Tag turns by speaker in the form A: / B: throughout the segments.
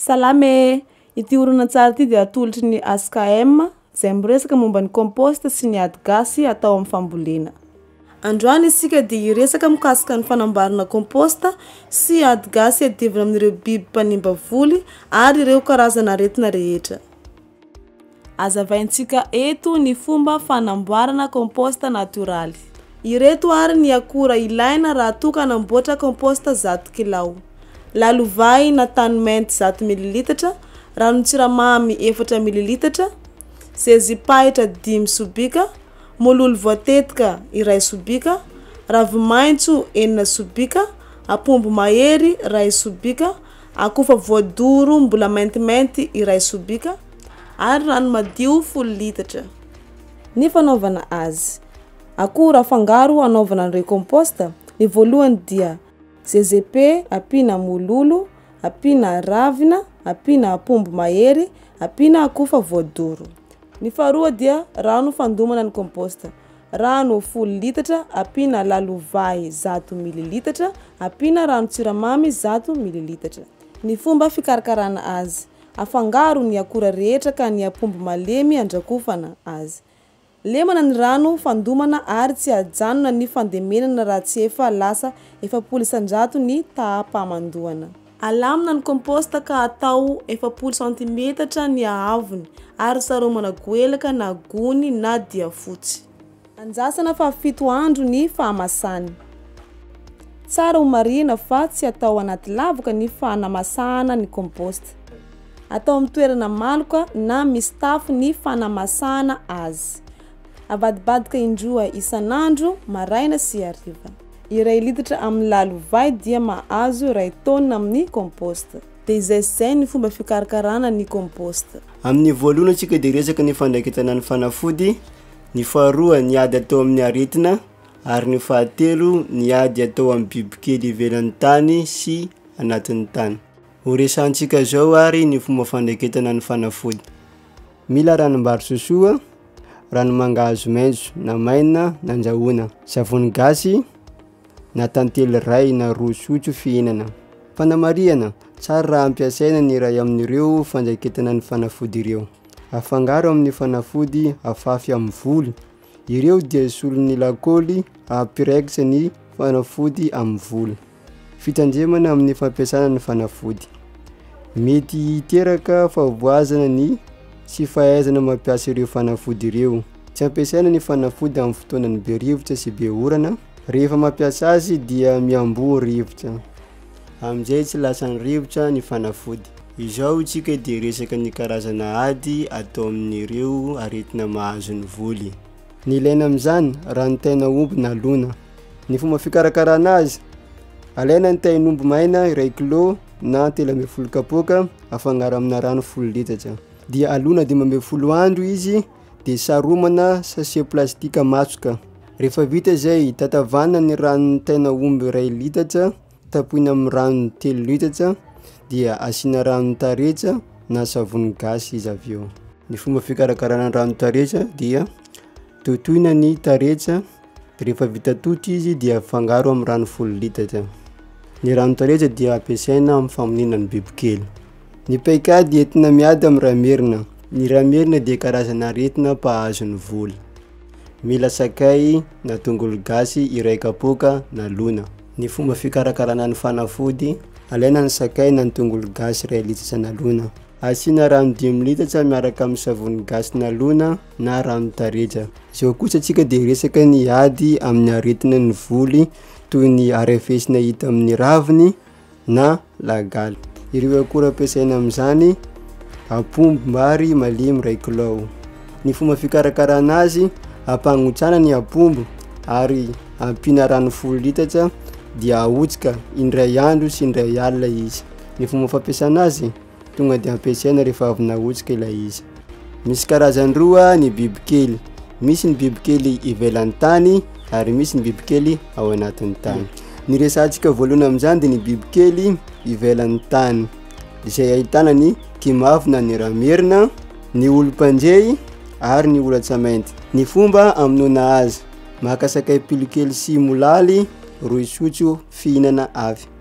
A: Salama e! Ity horonantsary ity dia atolotry ny HKM, izay miresaka momba ny compost sy ny ady gasy atao amin'ny fambolena. Androany isika dia hiresaka mikasika ny fanamboarana compost sy ady gasy iadivana amin'ireo biby mpanimba voly ary ireo karazana aretina rehetra. Azavaintsika eto ny fomba fanamboarana compost natoraly. Ireto ary ny akora ilaina raha toa ka namboatra compost zato kilao. Lalovay na tany mainty zato mililitatra, ranon-tsiramamy efatra mililitatra, zezim-pahitra dimy sobika, mololo voatetika iray sobika, ravi-maitso enina sobika, apombo mahery iray sobika, Akoho efa voadoro mbola maintimainty iray sobika ary rano madio folo litatra. Ny fanaovana azy. Akoho raha fangaro hanaovana an'ireo compost, ny voalohany dia GZP ampiana mololo, ampiana ravina, ampiana apombo mahery, ampiana akoho efa voadoro. Ny faharoa dia rano fandomana ny compost. Rano folo litatra ampiana lalovay zato mililitatra ampiana ranon-tsiramamy zato mililitatra. Ny fomba fikarakarana azy. Afangaro ny akora rehetra ka ny ampombo malemy andrakofana azy. Lemana ny rano fandomana ary tsy ajanona ny fandemenana raha tsy efa lasa efapolo isanjato ny taha-pamandoana. Alamina ny komposta ka atao efapolo santimetatra ny haavony ary saromana goelaka na gony na diafotsy. Andrasana fahafito andro ny fahamasany. Tsara ho marihina fa tsy atao anaty lavoka ny fanamasahana ny komposta. Atao amin'ny toerana maloka na misy tafo ny fanamasahana azy. Avadibadika indroa isan'andro, maraina sy hariva. Iray litatra amin'ny lalovay dia mahazo iray taonina amin'ny compost. Dia izay sy izay ny fomba fikarakarana ny compost. Amin'ny voalohany isika dia resaka ny fandraiketana ny fanafody, ny faharoa ny ady atao amin'ny aretina ary ny fahatelo ny ady atao amin'ny bibikely ivelan'ny tany sy anatin'ny tany. Horesahantsika izao ary ny fomba fandraiketana ny fanafody. Mila ranom-bary sosoa, ranomangahazo maitso na maina nandrahoina, savony gasy na tantely iray na roa sotro fihinana. Fanamarihana, tsara raha ampiasaina ny iray amin'ireo fandraiketana ny fanafody ireo. Afangaro amin'ny fanafody afafy amin'ny voly Ireo dia solon'ny lakôly hampiraikitra ny fanafody amin'ny vola. Fitandremana amin'ny fampiasana ny fanafody. Mety hiteraka fahavoazana ny tsy fahaizana mampiasa ireo fanafody ireo. Tsy ampiasaina ny fanafody amin'ny fotoanan'ny be rivotra sy be orana. Rehefa mampiasa azy dia mihamboho rivotra. Amin'izay tsy lasan'ny rivotra ny fanafody. Izao isika dia resaka ny karazana ady atao amin'ireo aretina mahazo ny voly. Ny ilaina amin'izany, ranon-taina omby nalona. Ny fomba fikarakarana azy, alaina ny tain'omby maina iray kilao na telo ambin'ny folo kapoaka afangaro amina rano folo litatra dia alona dimy ambin'ny folo andro izy dia saromana sachet plastika matsoka. Rehefa vita izay, tatavanina ny ranon'ny tain'aomby iray litatra, tapohina amin'ny rano telo litatra, dia asiana ranon-taretsa na savony gasy izy avy eo. Ny fomba fikarakarana ny ranon-taretsa dia totoina ny taretsa, rehefa vita toto izy dia afangaro amin'ny rano folo litatra. Ny ranon-taretsa dia ampiasaina amin'ny famoniana ny bibikely. Ny paikady entina miady amin'ny rà merina. Ny rà merina dia karazana aretina mpahazo ny voly. Mila sakay na tongolo gasy iray kapoaka na lona. Ny fomba fikarakarana ny fanafody. Alaina ny sakay na ny tongolo gasy iray litatra nalona. Asiana rano dimy litatra miaraka amin'ny savony gasy nalona na rano tareja. Izao kosa tsika dia resaka ny ady amin'ny aretina ny voly toy ny arefesina hita amin'ny raviny, na lagaly. Ireo akora ampiasaina amin'izany, apombombary malemy iray kilao. Ny fomba fikarakarana azy, ampangotsana ny apombo ary ampiana rano folo litatra dia ahotsika indray andro sy indray alina izy. Ny fomba fampiasana azy, Tonga dia ampiasaina rehefa avy nahotsika ilay izy. Misy karazany roa ny bibikely. Misy ny bibikely ivelan'ny tany ary misy ny bibikely ao anatin'ny tany. Ny resantsika voalohany amin'izany dia ny bibikely ivelan'ny tany izay ahitana ny kimavina, ny ramerina, ny olom-panjey ary ny olantsamainty. Ny fomba amonoana azy, maka sakay pilokely sy molaly roy sotro fihinana avy.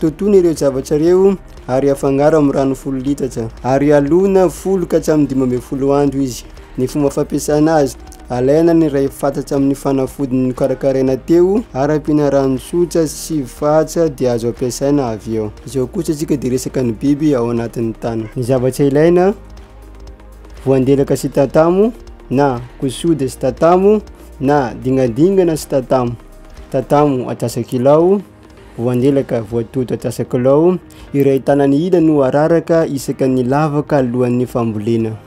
A: Totoina ireo zavatra ireo ary afangaro amin'ny rano folo litatra ary alona folo ka hatramin'ny dimy ambin'ny folo andro izy. Ny fomba fampiasana azy, alaina ny iray fatatra amin'ny fanafody nokarakaraina teo ary ampiana rano tsotra sy fatra dia azo ampiasaina avy eo. Izao kosa isika dia resaka ny biby ao anatin'ny tany. Ny zavatra ilaina, voandelaka sy tatamo na kosode sy tatamo na dingadingana sy tatamo. Tatamo atsasakilao. Voandelaka voatoto antsasa-kilao iray tanany ila no araraka isaka ny lavaka alohan'ny fambolena.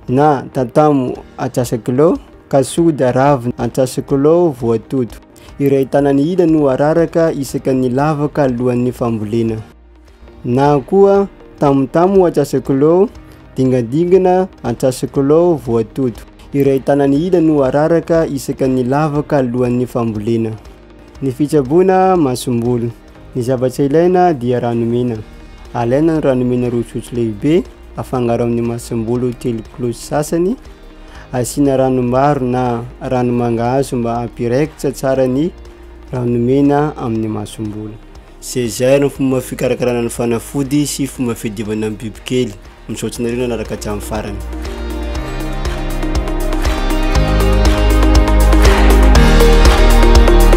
A: Na tantamo antsasa-kilao, kasoda ravina antsasa-kilao voatoto iray tanany ila no araraka isaka ny lavaka alohan'ny fambolena. Na koa tamotamo antsasak'lou, dingadingana antsasak'lou voatoto. Iray tanany ila no araraka isaka ny lavaka alohan'ny fambolena. Ny fitsaboana masombolo. Ny zavatra ilaina dia rano mena. Alaina ny rano mena roa sotro lehibe, afangaro amin'ny masombolo telo kilao sy sasany. Asiana rano maro na rano mangahazo mba hampiraikitra tsara ny rano mena amin'ny masombolo. Seizay ny fomba fikarakarana ny fanafody sy fomba fiadivana ny bibikely. Misaotra anareo nanaraka hatramin'ny farany.